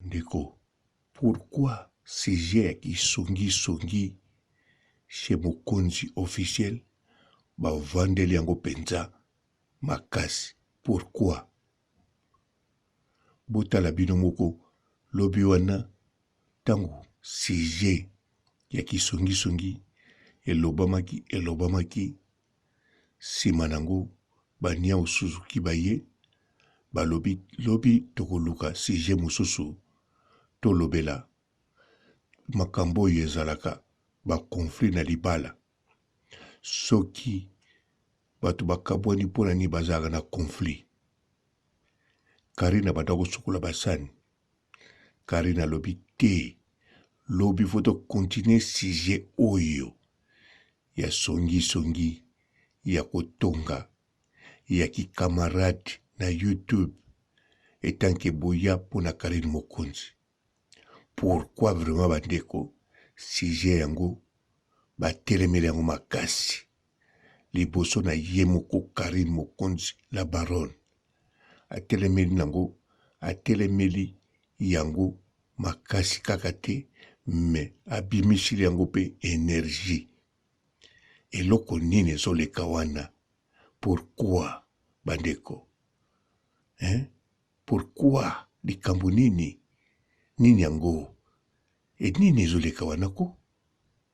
Ndeko, pourquoi sujet ya ki songi songi chez mokonzi officiel ba vandeli yango penza makasi pourquoi? Botala bino moko lobi wana tangu sujet ya ki songi songi elobamaki elobamaki sima nango ba niawu suzuki baye balobi lobi tokoluka sujet mususu tolobela makambo oyo ezalaka ba conflit na libala soki batu bakabwani pona nini bazalaka na conflit Carine abanda kosukola basani Carine alobi te lobi faut to continuer sujet oyo ya songi songi ya kotonga ya ki camarade na YouTube etant que boya mpo na Carine Mokonzi. Pourquoi vraiment bandeko sujet yango batelemeli yango makasi. liboso na ye moko Carine Mokonzi la baronne atelemeli nango atelemeli yango makasi kaka te me abimisili yango mpe energie eloko nini ezoleka wana pourkui bandeko eh? pourkui likambo nini nini yango e nini ezoleka wana ko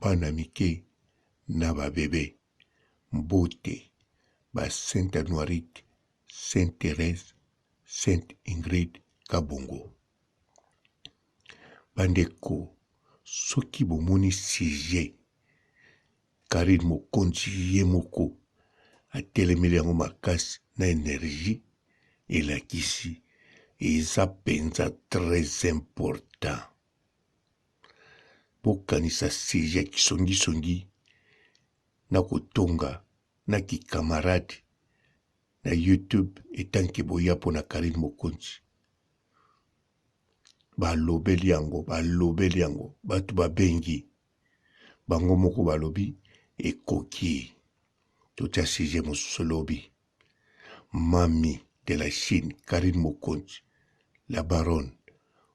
bana mike na ba bebe mbote ba sainte anuarite sainte therese sainte ingrid kabongo bandeko soki bomoni sujet karine mokonzi ye moko atelemeli yango makasi na energie elakisi eza mpenza très important bokanisa serie ya kisongisongi na kotonga na kikamarade na youtube etanke boya mpo na karine mokonzi balobeli yango balobeli yango bato babengi bango moko balobi ekoki totya serie mosusu lobi Mamy de la Chine, Carine Mokonzi, la baronne,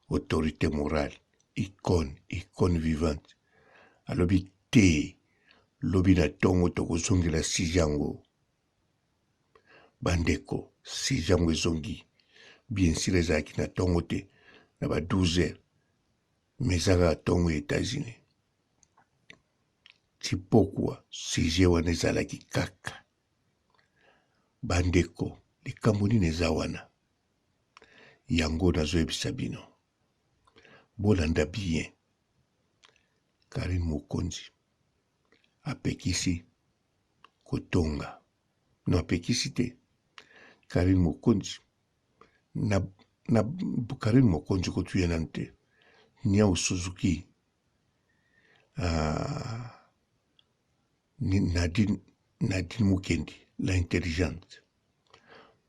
autorité morale, icône, icône vivante. Alobi te, lobi na tongo tokozongela sujet yango. Bandeko, sujet yango ezongi. Bien sûr ezalaki na tongo te, na ba 12 heures. Mais ezalaka tongo ya États-Unis. Chipokwa, sujet wana ezalaki kaka. Bandeko, likambo nini eza wana? Yango nazoyebisa bino, bolanda bien. Karine Mokonzi apekisi kotonga no, apekisi te. Karine Mokonzi na, na Karine Mokonzi kotuya nanu te. Nyao Suzuki ah, Nadine, Nadine Mukendi, la intelligente,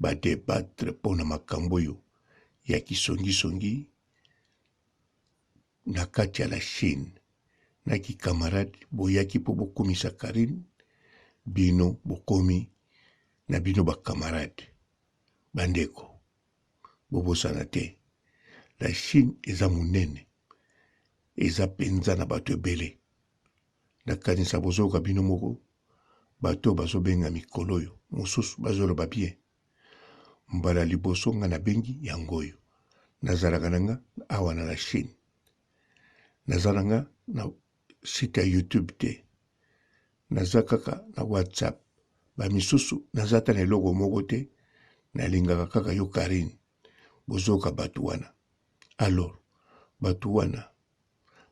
ba debattre mpo na makambo oyo ya kisongisongi na kati ya la Chine na kikamarade boyaki mpo bokumisa Karine, bino bokomi na bino bakamarade. Bandeko, bobosana te, la Chine eza monene, eza mpenza na bato ebele. Nakanisa bozoyoka bino moko bato oyo bazobenga mikolo oyo mosusu bazoloba bien. Mbala liboso nga nabengi yango oyo. Nazalaka na nga awa na la Chine. Naza na nga na site ya YouTube te. Naza kaka na WhatsApp. Ba misusu naza ata na eloko moko te. Nalingaka kaka yo Carine. Bozoyoka bato wana. Alors, bato wana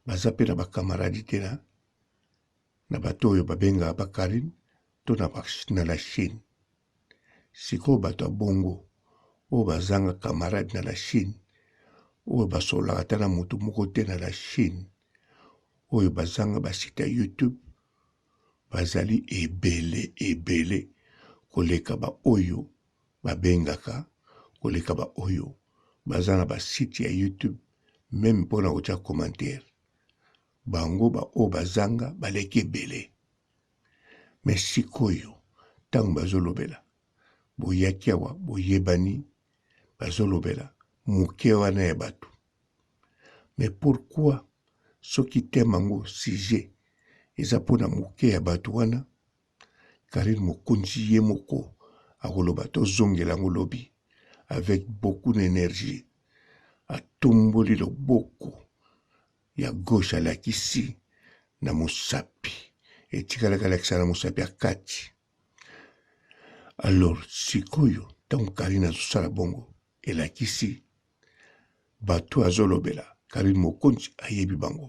baza mpe na bakamaradi te na na bato oyo babengaka bakarine to na la chine sikoyo bato ya bongo oyo bazanga kamarade na la chine oyo basololaka ata na moto moko te na la chine oyo bazanga basite ya youtube bazali ebele ebele koleka baoyo babengaka koleka ba oyo baza na ba site ya youtube meme mpo na kotya commentaire bango ba oyo bazanga baleki ebele me sikoyo ntango bazolobela boyaki awa boyebani bazolobela moke wana ya bato me pourkui soki teme yango sujet eza mpo na moke ya bato wana Carine mokonzi ye moko akoloba tozongela yango lobi avec beaucoup d'energie atomboli loboko ya gauche alakisi na mosapi etikalaki alakisa na mosapi ya kati alors sikoyo ntango karine azosala bongo elakisi bato azolobela karine mokonzi ayebi bango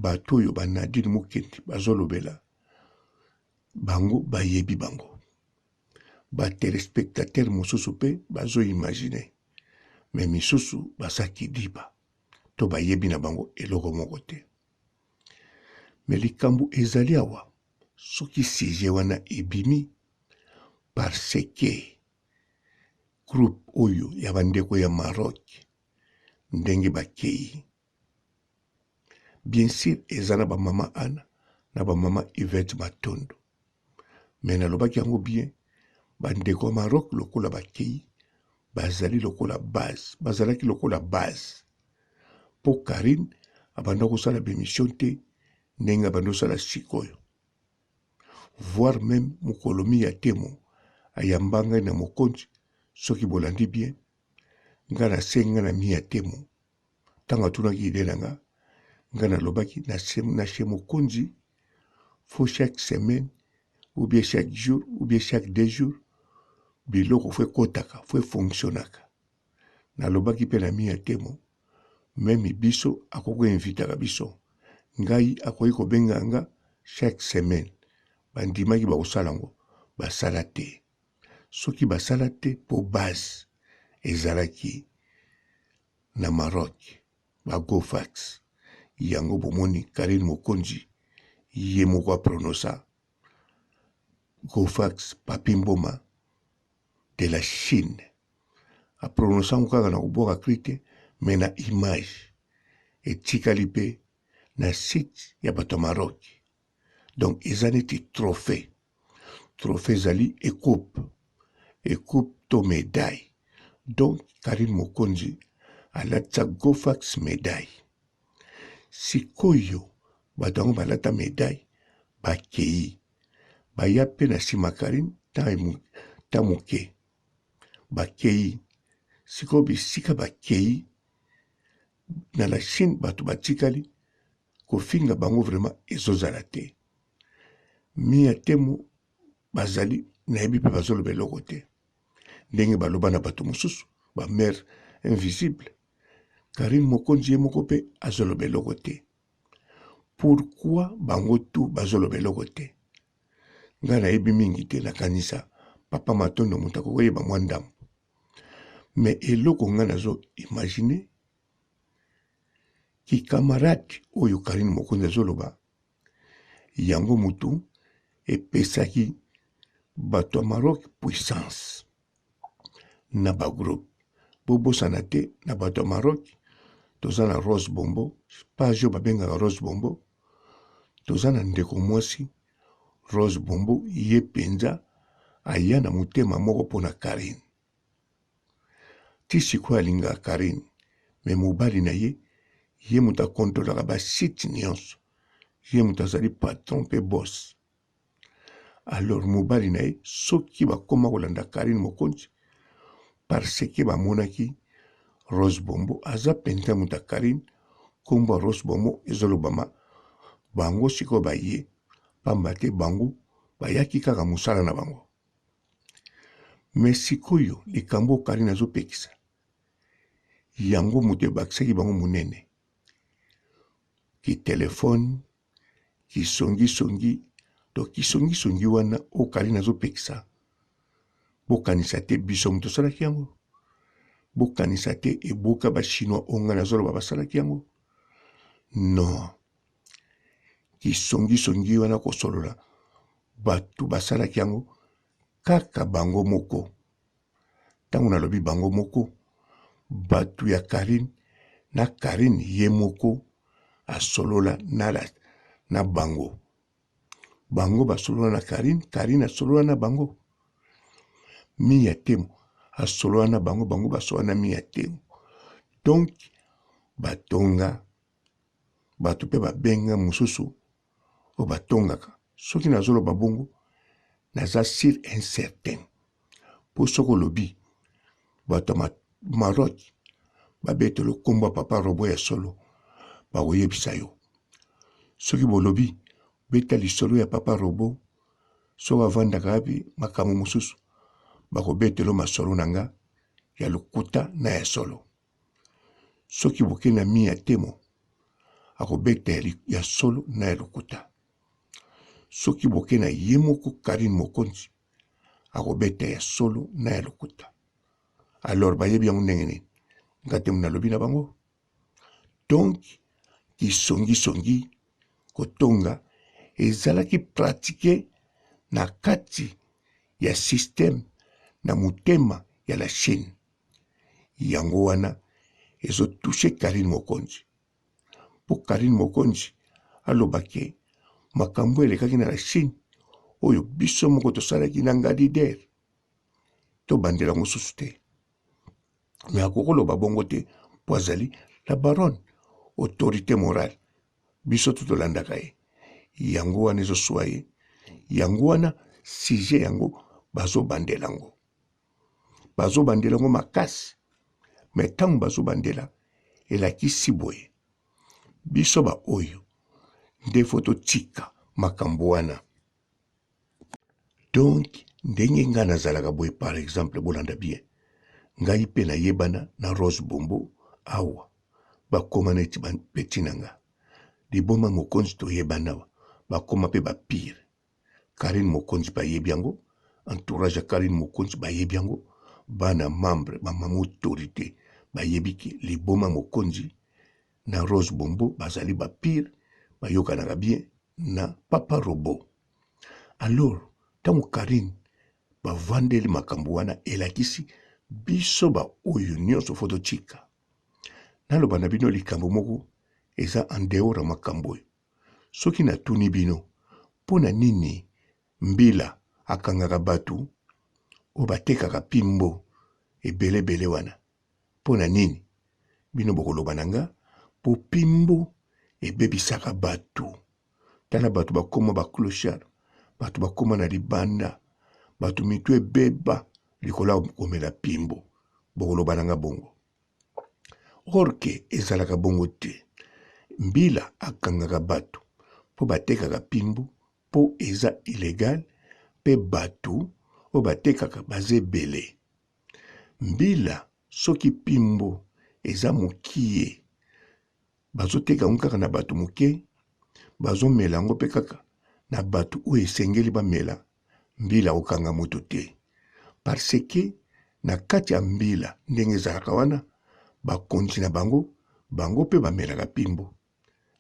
Bato oyo ba Nadine Mukendi bazolobela bango bayebi bango. Ba telespectateurs mosusu pe bazo imaginer mais misusu baza kidiba to bayebi na bango eloko moko te. Mais likambo ezali awa soki sujet wana ebimi parce que groupe oyo ya bandeko ya Maroc ndenge bakeyi Bien sur eza na ba mama Anna na ba mama Yvette Matondo mais nalobaki yango bien bandeko ya Maroc lokola bakei bazali lokola base bazalaki lokola base mpo Karine abanda kosala bemission te ndenge abandi kosala sikoyo voire meme mokolo mi ya temo ayamba ngai na mokonzi soki bolandi bien ngai nasengi ngai na mi ya temo Ntango atunaki idee na nga, nga nalobaki na se, na se mokonzi fo chaque semaine ou bien chaque jour ou bien chaque deux jours biloko fo ekotaka fo efonctionnaka nalobaki mpe na mi ya temo meme biso akoki koinvitaka biso ngai akoki kobenga nga chaque semaine bandimaki bakosala yango basala te soki basala te po base ezalaki na Maroc ba Gofax yango bomoni Carine Mokonzi ye moko a prononça Gofax Papi Mboma de la Chine a prononça ngo kaka na kobwaka cri te mais na image etikali pe na site ya bato ya Maroc donc eza neti trophée trophée ezali ecoupe ecoupe to medaille donc karine mokonzi alatisa gofax medaille sikoyo bato yango balata medaille bakei baya mpe na nsima karine ta moke bakei sikoyo bisika bakei na la chine bato batikali Kofinga bango vraiment ezozala te. Mia Temo bazali nayebi mpe bazoloba eloko te ndenge baloba na bato mosusu ba mère invisible Karine Mokonzi ye moko mpe azoloba eloko te pourquoi bango tu bazoloba eloko te ngai nayebi mingi te nakanisa papa matondo moto akokoyeba mwa ndambo me eloko ngai nazo imagine Ki camarade oyo Carine Mokonzi azoloba yango mutu epesaki bato ya Maroc puissance na ba groupe. Bobosana te na bato ya Maroc toza na Rose Bombo, page oyo babengaka Rose Bombo, toza na ndeko mwasi Rose Bombo ye mpenza aya na motema moko mpo na Carine. ti sikoyo alingaka Carine me mobali na ye ye moto akontrolaka basite nyonso ye moto azali patron mpe bos alors mobali na ye soki bakoma kolanda Carine Mokonzi parce que bamonaki Rose Bombo aza mpenza moto ya Carine nkombo ya Rose Bombo ezolobama bango sikoyo baye mpamba te bango bayaki kaka mosala na bango me sikoyo likambo oyo karine azopekisa yango moto ebakisaki bango monene kitelefone kisongisongi to kisongisongi wana oyo karine azopekisa bokanisa te biso moto osalaki yango bokanisa te eboka bachinois oyo ngai nazoloba basalaki yango non lisongisongi wana kosolola bato basalaki yango kaka bango moko ntango nalobi bango moko bato ya karine na karine ye moko asolola na, la, na bango bango basolola na karine karine asolola na bango miya temo asolola na bango bango basolola na miya temo donk batonga Bato mpe babengi ngai mosusu oyo batongaka. Soki nazoloba bongo, naza sur un certain. Mpo soki olobi, bato ya Maroc babetelo nkombo ya Papa Robo ya solo, bakoyebisa yo. Soki bolobi, beta lisolo ya Papa Robo, soki avandaka wapi, makambo mosusu, bakobetelo masolo na nga ya lokuta na ya solo. Soki boke na mi ya temo, akobeta ya, ya solo na ya lokuta. Soki boke na ye moko Karine Mokonzi, akobeta ya solo na ya lokuta. Alors bayebi yango ndenge nini? Nga temo nalobi na bango. Donc kisongisongi kotonga ezalaki pratike na kati ya systeme na motema ya la Chine. Yango wana ezo touche Carine Mokonzi. Mpo Carine Mokonzi aloba ke makambo elekaki na la Chine oyo biso moko tosalaki na Ngadi Der. Tobandela yango susu te. Me akokoloba bongo te mpo azali la baronne autorité morale biso tu tolandaka ye yango wana ezoswa ye yango wana sujet yango bazobandela yango bazobandela yango makasi me ntango bazobandela elakisi boye biso baoyo nde fo totika makambo wana donk ndenge ngai nazalaka boye par exemple bolanda bien ngai mpe nayebana na rose bombo awa bakoma neti bapeti na nga liboma mokonzi toyebana awa bakoma mpe bapire Carine Mokonzi bayebi yango, entourage ya Carine Mokonzi bayebi yango, bana membre ba mama autorite bayebi ke liboma Mokonzi na Rose Bombo bazali ba pire, bayokanaka bien na Papa Robot. Alors tango Carine bavandeli makambo wana elakisi biso ba oyo nyonso fo totika. Naloba na bino likambo moko eza en dehors ya makambo oyo. Soki natuni bino, mpo na nini mbila akangaka batu oyo batekaka pimbo ebele ebele wana? Mpo na nini? Bino bokoloba na nga, mpo pimbo ebebisaka batu. Tala batu bakoma ba clochard, batu bakoma na libanda, batu mitu ebeba likolo ya komela pimbo. Bokoloba na nga bongo. orke ezalaka bongo te mbila akangaka bato mpo batekaka pimbu mpo eza ilegal mpe bato oyo batekaka baza ebele mbila soki pimbu eza mokie Bazoteka yango kaka na bato moke, bazomela yango mpe kaka na bato oyo esengeli bamela mbila ya kokanga moto te, parce que na kati ya mbila ndenge ezalaka wana, bakonzi na bango, bango mpe bamelaka pimbo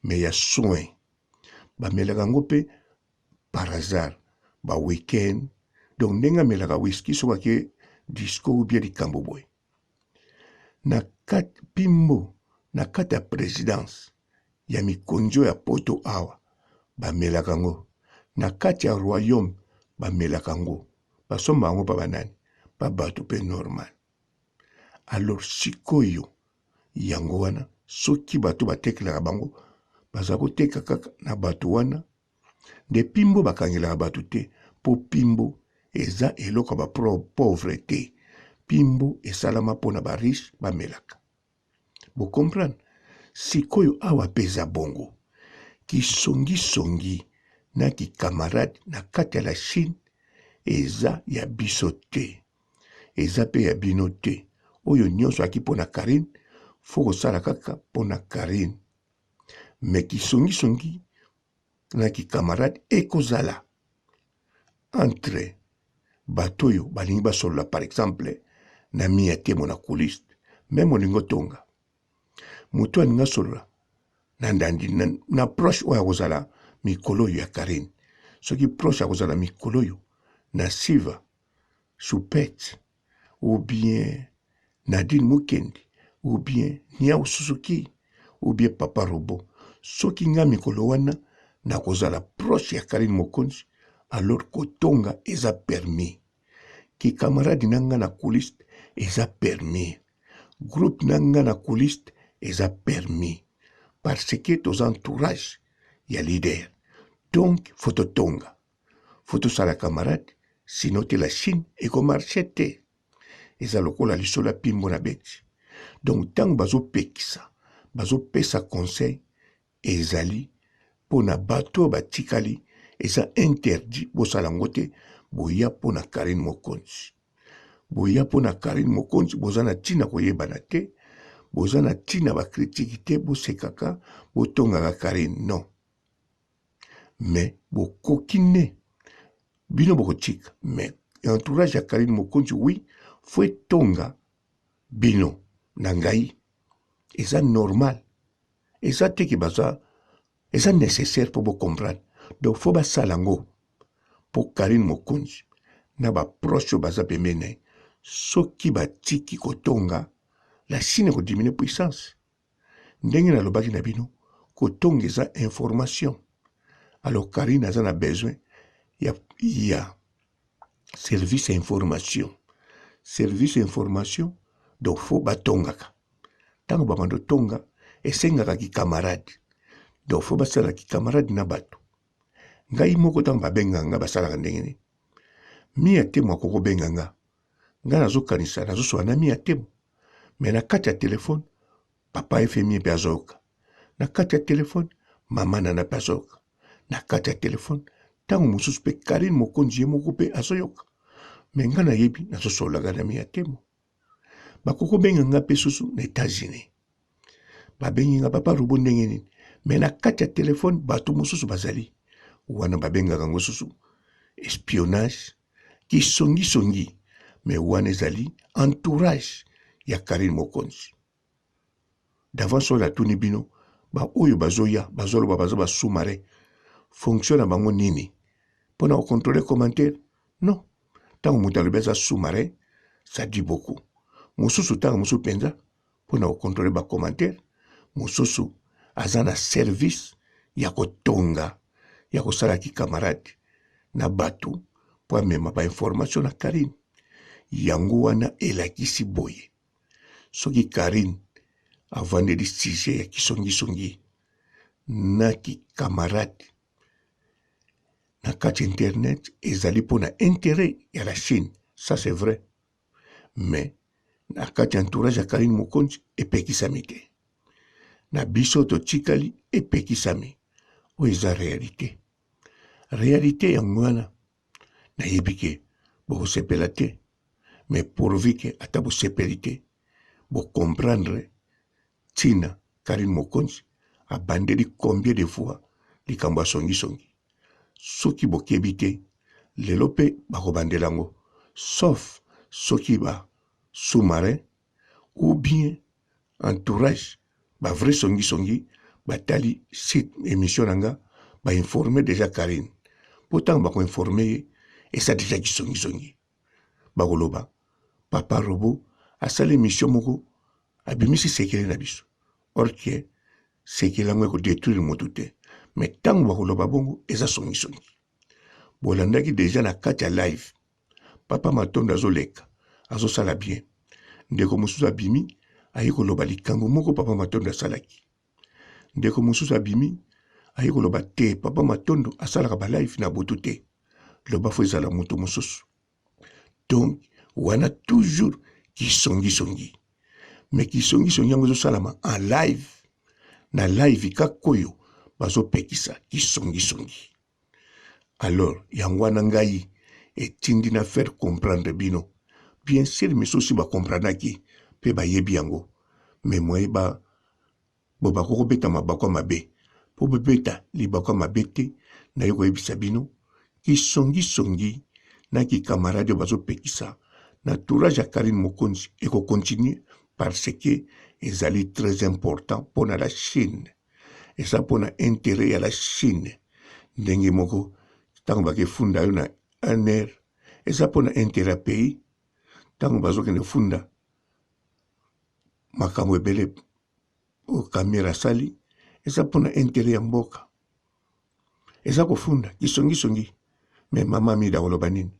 mais ya soin, bamelaka yango mpe par hasard ba week-end, donc ndenge amelaka whisky soki ake disco ou bien likambo boye. Na kati pimbo na kati ya presidence ya mikonjo ya poto awa ba melaka ngo na kati ya royaume ba melaka ngo ba somba yango pa ba nani pa batu pe normal alors sikoyo yango wana soki batu ba tekelaka bango baza koteka kaka na batu wana nde pimbo bakangelaka batu te po pimbo eza eloko ya ba pauvre te pimbo esalama pona ba riche bamelaka bo comprendre sikoyo awa peza bongo kisongi songi na ki camarade na kati ya la Chine eza ya biso te eza pe ya bino te oyo nionso aki pona Carine faut kosala kaka pona Carine mais kisongisongi na kikamarade ekozala entre bato oyo balingi basolola par exemple na miya te monakuliste me molingo tonga moto alingi asolola na ndandi na, na proche oyo akozala mikolo oyo ya karine soki proche akozala mikolo oyo na siva choupette ou bien Nadine Mukendi ou bien Niawu Suzuki ou bien Papa Robot. Soki nga mikolo wana nakozala proche ya Carine Mokonzi, alors kotonga eza permis. Ki camarade na nga na couliste eza permis. Groupe na nga na couliste eza permis. Parce que toza entourage ya leader. Donc faut totonga. faut tosala camarade sino te la chine ekomarche te eza lokola lisolo ya pimbo na beti donc ntango bazopekisa bazopesa conseil ezali mpo na bato oyo batikali eza interdit bosala yango te boya mpo na karine mokonzi boya mpo na karine mokonzi boza na ntina koyebana te boza na ntina bakritiki te bosekaka botongaka karine non mais bokoki ne bino bokotika mais entourage ya Carine Mokonzi oui faut etonga bino na ngai eza normal eza te ke baza eza nécessaire mpo bocomprendre donc fo basala yango mpo karine mokonzi na baproche oyo baza pembeni na ye soki batiki kotonga la chine ekodiminue puissance ndenge nalobaki na bino kotonga eza information alors karine aza na besoin ya, ya service ya information service ya information donc fo batongaka ntango babanda otonga esengaka kikamarade donc fo basalaka kikamarade na bato ngai moko ntango babenga nga basalaka ndenge nini mia te mwa kokobenga nga nga nazokanisa nazosola na mia temo me na kati ya telefone papa efemie mpe azoyoka na kati ya telefone mama nana mpe azoyoka na kati ya telefone ntango mosusu mpe karine mokonzi ye moko mpe azoyoka me nga nayebi nazosololaka na mia temo bakoki obenga nga mpe susu na etats-unis babengi nga papa robo ndenge nini me na kati ya telefone bato mosusu bazali wana babengaka yango susu espionnage Kisongi songi mais wana ezali entourage ya Carine Mokonzi. D'avance oyo natuni bino ba oyo bazoya bazoloba baza ba sous-marin fonction na bango nini mpo na kocontrole commentaire non ntango moto alobi aza sous-marin ça dit beaucoup mosusu ntango mosusu mpenza mpo na kokontrole bakomantere mosusu aza na service ya kotonga ya kosala kikamarade na bato mpo amema bainformation na karine yango wana elakisi boye soki karine avandeli sujet ya kisongisongi na kikamarade na kati internet ezali mpo na interet ya la chine ça c'est vrai mais na kati ya entourage ya Carine Mokonzi epekisami te, na biso totikali epekisami. Oyo eza realite, realite yango wana nayebi ke bokosepela te, mais pourvu ke ata bosepeli te, bocomprendre Tina Carine Mokonzi abandeli combien de fois likambo ya songi songi? Soki bokebi te lelo pe bakobandela yango sauf soki ba sous marin ou bien entourage ba vrai songi songi batali site emission na nga ba informer dejà Carine po tango bako informer ye esa dejà ki songi songi. bakoloba papa robo asali emission moko abimisi sekele na biso orke sekele yango ekodetruire motu te me ntango bakoloba bongo eza songisongi bolandaki deja na kati ya live papa matondo azoleka azosala bien ndeko mosusu abimi aye koloba likambo moko papa matondo asalaki Ndeko mosusu abimi aye koloba te papa matondo asalaka ba live na butu te loba fo ezala moto mosusu donc wana toujours kisongisongi me kisongisongi yango ezosalama en live na live kaka oyo bazopekisa kisongisongi Alors yango wana ngai etindi na faire comprendre bino bien sur misusu ba comprenaki pe bayebi yango mais moye ba bobako kobeta mabakwa mabe po bobeta libakwa mabe te naye koyebisa bino kisongisongi na kikamarade oyo bazopekisa na tourage ya Karine Mokonzi ekocontinue parce que ezali très important mpo na la Chine. eza mpo na interet ya la chine ndenge moko ntango bakefunda yo na un aire eza mpo na interet ya pays ntango bazokende funda makambo ebele oyo kamera asali eza mpo na interet ya mboka eza kofunda kisongisongi me mama mida akoloba nini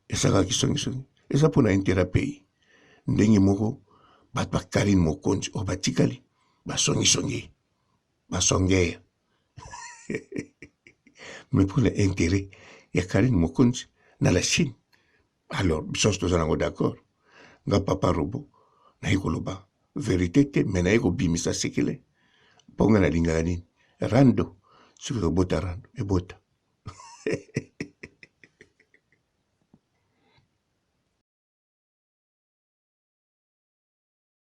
esaka kisongisongi eza mpo na intera pays ndenge moko bato bakali mokonzi oyo batikali basongisongi basongeya me mpo na interet ya karine mokonzi na la chine alors biso nyonso toza nango d'accord nga papa robo naye koloba verite te me naye kobimisa sekele mpo nga nalingaka nini rando soki ekobota rando ebota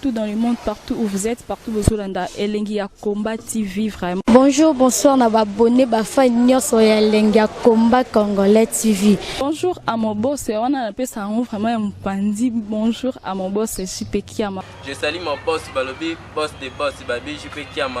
tout dans le monde partout où vous êtes partout bozolanda elengi ya combat tv vraiment bonjour bonsoir na babone bafai nyonso ya elengi ya combat congolais tv bonjour à mon boss wana napesa yango vraiment ya mopanzi bonjour à mon boss jp kiama je sali mon boss balobi boss de boss babi jp kiama